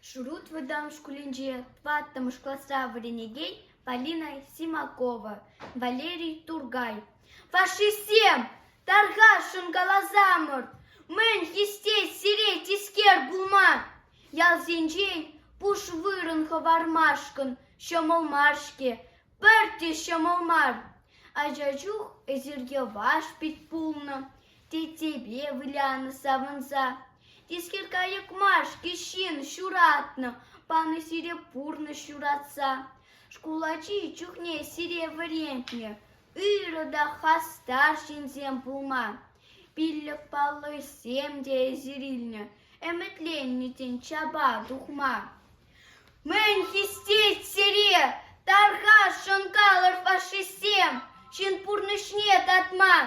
Шурут вӑтам шкулӗнче тӑваттӑмӗш класра вӗренекен Полина Симакова, Валерий Тургай: «Фашистсем! Тархасшӑн каласамӑр, мӗн хистет сире тискер пулма? Ялсенчен пуш вырӑн хӑвармашкӑн ҫӑмӑл мар-ҫке. Пӗртте ҫӑмӑл мар. Ача чух эсирке ваш пит пулнӑ, теттепе вылянӑ савӑнса. Тискер кайӑк мар-ҫке ҫын ҫуратнӑ, панӑ сире пурнӑҫ ҫуратса. Шкул ачи чухне сире вӗрентнӗ, ырӑ та хастар ҫынсем пулма. Пиллӗк паллӑсем те эсир илнӗ, ӗмӗтленнӗ тен чапа тухма. Мӗн хистет сире, тархас, шӑнкалӑр фашистсем, ҫын пурнӑҫне татман?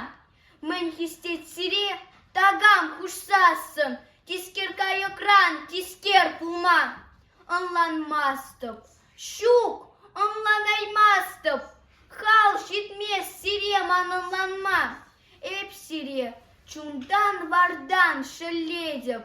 Мӗн хистет сире, такам хушсассӑн, тискер кайӑкран тискер пулман? Ӑнланмастӑп, ҫук, ӑнланаймастӑп, хал ҫитмест сире манӑнланма. Эп сире чунтан-вартан шеллетӗп.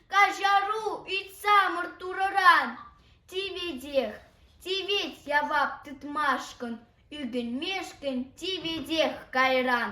Каҫару ыйтсамӑр Турӑран тиветех, тивет явап тытмашкӑн, ӳкӗнмешкӗн тиветех кайран.